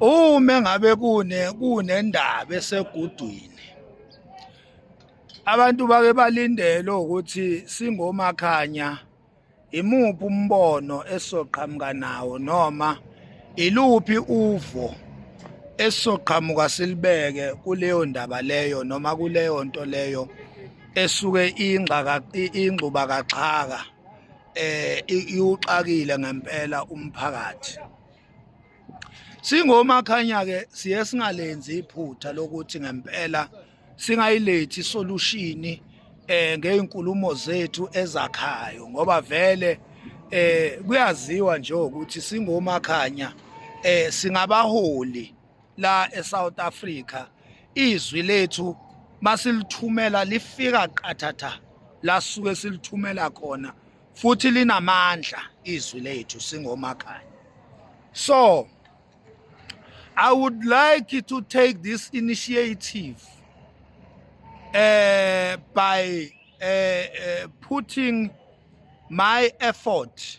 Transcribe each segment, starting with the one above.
uma ngabe kune kunendaba esegudwini abantu bake balindele ukuthi singomakhanya imuphi umbono esoqhamuka nawo noma iluphi uvo esizoqhamuka silibeke kuleyo ndaba leyo noma kuleyo nto leyo esuke ingxaka ingxuba kaxhaka eh iwuxakile ngempela umphakathi Singomakhanya ke siye singalenzi iphutha lokuthi ngempela singayilethi isolution eh ngeinkulumo zethu ezakhayo ngoba vele eh kuyaziwa nje ukuthi singomakhanya eh singabaholi la eSouth Africa izwi lethu masilithumela lifika qathatha la suke silithumela khona futhi linamandla izwi lethu singomakanye so i would like to take this initiative uh, by uh, uh, putting my effort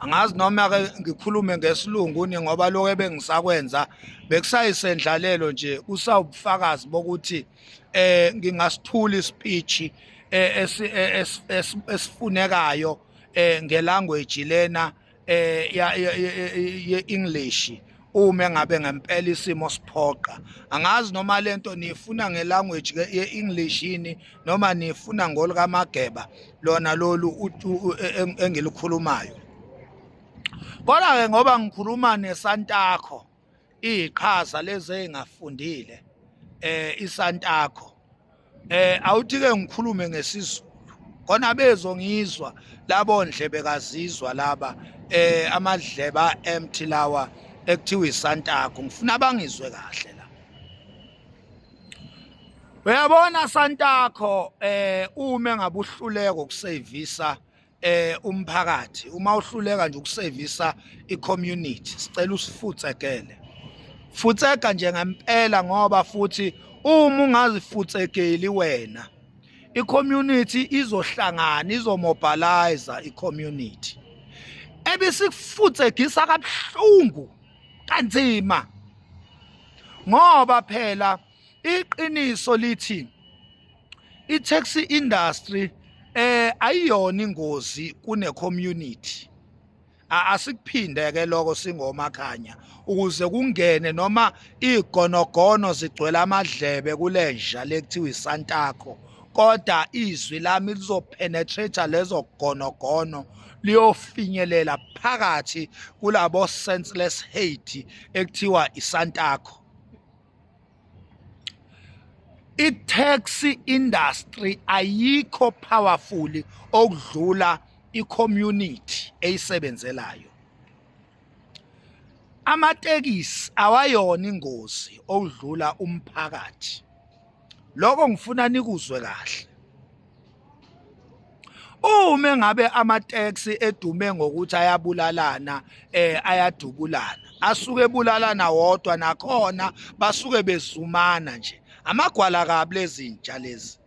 angazi noma ke ngikhulume ngesilungu ni ngoba lokho ebengisakwenza bekusayisendlalelo nje kusawubufakazi bokuthi eh ngingasithuli speech eh, eh, esifunekayo eh ngelanguage lena eh ye English uma engabe ngempela isimo siphoqa angazi noma lento niyifuna ngelanguage ke ye-english yini noma niyifuna ngolikamageba lona lolu e, e, engilikhulumayo kodwa-ke ngoba ngikhuluma nesantakho iyiqhaza lezi ey'ngafundile um isantakho Eh awuthi ke ngikhulume ngesizulu. Kona bezo ngizwa labo ndlebe kazizwa laba eh amadleba empty lawa ekuthiwa iSantago ngifuna bangizwe kahle la. Uyabona Santago eh uma ngabuhluleko kusevisa eh umphakathi uma uhluleka nje ukusevisa icommunity sicela usifutsekele futseka nje ngempela ngoba futhi uma ungazifutsekeli wena icommunity izohlangana izomobilize icommunity ebisikufutsegisa kabuhlungu kanzima ngoba phela iqiniso lithi i-taxi industry eh ayiyona ingozi kune community asikuphinde ke lokho singomakhanya ukuze kungene noma igonogono zigcwele amadlebe kulenja lekuthiwa isantakho kodwa izwi lami lizopenetrate lezo gonogono liyofinyelela phakathi kulabo senseless hate ekuthiwa isantakho i-taxi industry ayikho powerful okudlula i-community eyisebenzelayo amatekisi awayona ingozi okudlula umphakathi lokho ngifuna nikuzwe kahle uma ngabe amateksi edume ngokuthi ayabulalana eh ayadubulana asuke ebulalana wodwa nakhona basuke bezumana nje amagwala kabi lezintsha lezi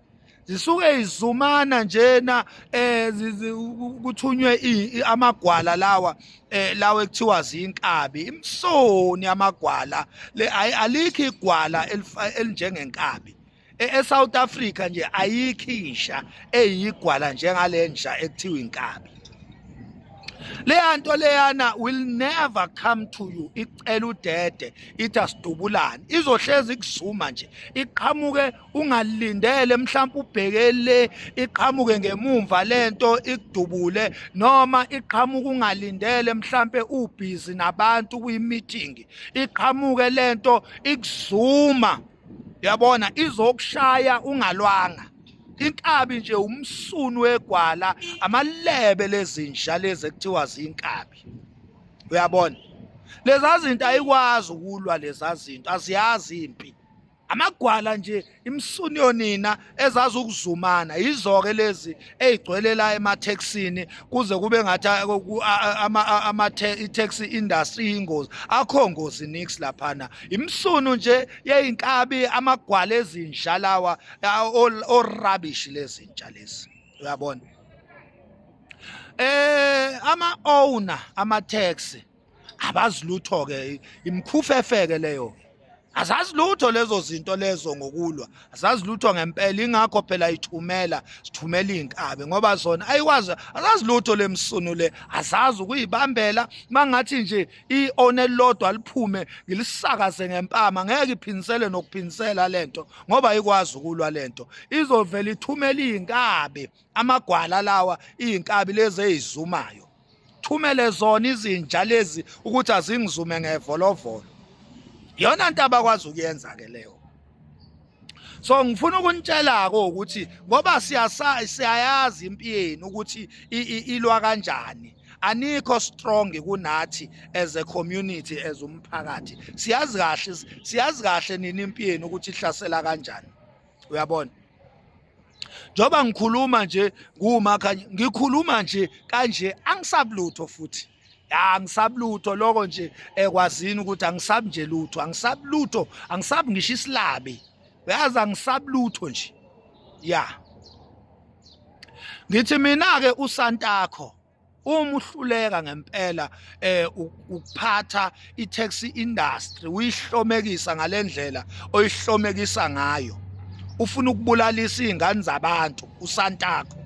zisuke izumana njena eh kuthunywe amagwala lawa eh lawe kuthiwa zinkabi imsoni amagwala le alikho igwala elinjengenkabi e, eSouth Africa nje ayikho insha eyigwala njengalenja ekuthiwa inkabi leya nto leyana will never come to you icela udede ithi asidubulane izohlezi kuzuma nje iqhamuke ungalindele mhlawumbe ubheke le iqhamuke ngemumva lento ikudubule noma iqhamuka ungalindele mhlawumbe ubhizi nabantu kwi-meeting iqhamuke lento ikuzuma yabona izokushaya ungalwanga inkabi nje umsunu wegwala amalebe lezinja lezi ekuthiwa zinkabi uyabona lezazinto ayikwazi ukulwa lezazinto aziyazi impi amagwala nje imsunyo nina ezazi ukuzumana yizoke lezi ezigcwele la emathexini kuze kube ngathi ama taxi industry ingozi akho ngozi nix laphana imsunu nje yeinkabi amagwala ezinja lawa o rubbish lezinja lezi uyabona eh ama owner ama taxi abazi lutho ke imkhufefeke leyo azazi lutho lezo zinto lezo ngokulwa azazi lutho ngempela ingakho phela ithumela sithumela inkabe ngoba zona ayikwazi azazi lutho lemsunu le azazi ukuyibambela mangathi nje ione lodwa liphume ngilisakaze ngempama ngeke iphinsele nokuphinsela lento ngoba ayikwazi ukulwa lento izovela ithumela inkabe amagwala lawa inkabi lezi ezizumayo thumele zona izinja lezi ukuthi azingizume ngevolovolo yona nto abakwazi ukuyenza ke leyo so ngifuna ukunitshela-ke ukuthi ngoba siyayazi impi yenu ukuthi ilwa kanjani anikho strong kunathi as a community as umphakathi siyazi kahle siyazi kahle nini impi yenu ukuthi ihlasela kanjani uyabona njoba ngikhuluma nje kuwumakha ngikhuluma nje kanje angisabulutho futhi angisabulutho lokho nje ekwazini eh, ukuthi angisabi nje lutho angisabulutho angisabi ngisho isilabi uyazi angisabulutho nje ya ngithi mina ke usantakho uma uhluleka ngempela eh ukuphatha i-taxi industry uyihlomekisa ngalendlela oyihlomekisa ngayo ufuna ukubulalisa izingane zabantu usantakho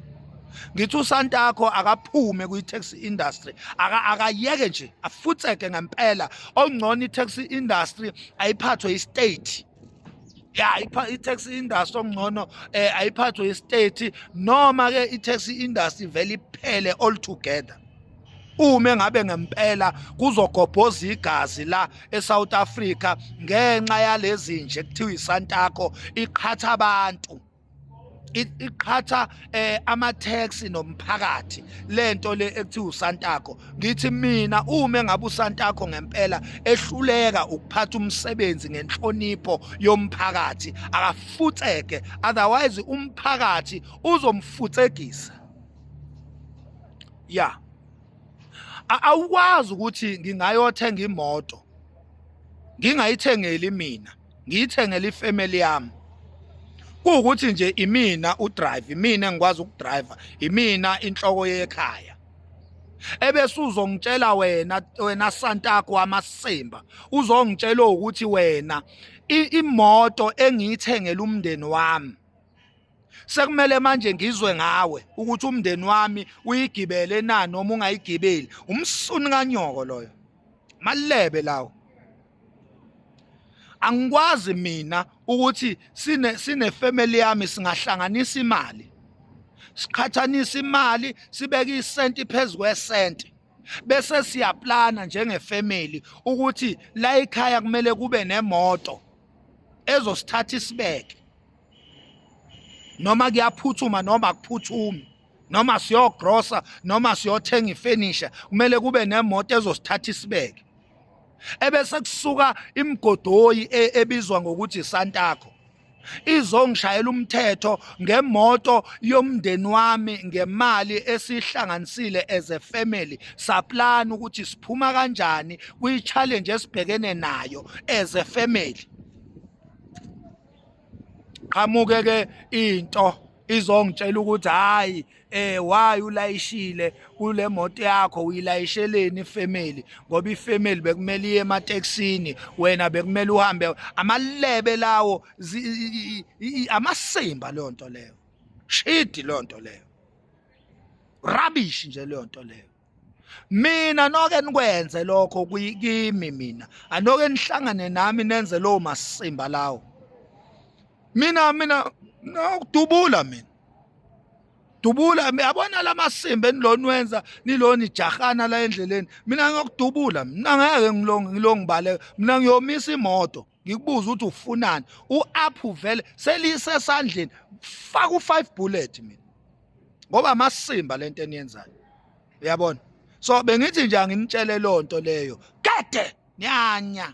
ngithi usantakho akaphume kwi-taxi industry akayeke nje afutseke ngempela ongcono i-taxi industry ayiphathwe i-state ya i-tax industry okungcono eh ayiphathwe i-state noma ke i-tax industry vele iphele all together uma ngabe ngempela kuzogobhoza igazi la eSouth Africa ngenxa yalezi nje kuthiwa iSantako iqhatha abantu iqhatha eh ama taxi nomphakathi lento le ekuthiwa uSantako ngithi mina uma engabe uSantako ngempela ehluleka ukuphatha umsebenzi ngenhlonipho yomphakathi akafutseke otherwise umphakathi uzomfutsegisa ya awukwazi ukuthi ngingayothenga imoto ngingayithengeli mina ngiyithengele ifamily yami kuwukuthi nje imina udrive imina engikwazi ukudriver imina inhloko yekhaya ebese uzongitshela wena wena santakho wamasimba uzongitshela ukuthi wena imoto engiyithengele umndeni wami sekumele manje ngizwe ngawe ukuthi umndeni wami uyigibele na noma ungayigibeli umsuni kanyoko loyo malebe lawo angikwazi mina ukuthi sine sine family yami singahlanganisa imali siqhathanisa imali sibeke isenti phezu kwesenti bese siyaplana njengefamily ukuthi la ekhaya kumele kube nemoto ezosithatha isibeke noma kuyaphuthuma noma akuphuthumi noma siyogrosa noma siyothenga ifenisha kumele kube nemoto ezosithatha isibeke ebese kusuka imgodoyi e, ebizwa ngokuthi Santako izongishayela umthetho ngemoto yomndeni wami ngemali esihlanganisile as a family saplan ukuthi siphuma kanjani kwi challenge esibhekene nayo as a family qhamuke ke into izongitshela ukuthi hayi eh why ulayishile kule moto yakho uyilayisheleni ifamily ngoba ifamily bekumele iye emateksini wena bekumele uhambe amalebe lawo amasimba leyo nto leyo shidi leyo nto leyo rubbish nje leyo nto leyo mina noke nikwenze lokho kimi mina anoke nihlangane nami nenze lowo masimba lawo mina mina nokudubula mina dubula yabona lamasimba enilona wenza nilona ijahana la endleleni mina ngiyokudubula mina ngeke ngilonge ngilongibale mina ngiyomisa imoto ngikubuza ukuthi ufunani u-aphu vele selisesandleni faka u-five bullet mina ngoba amasimba le nto eniyenzayo uyabona so bengithi nje anginitshele loo nto leyo kade nyanya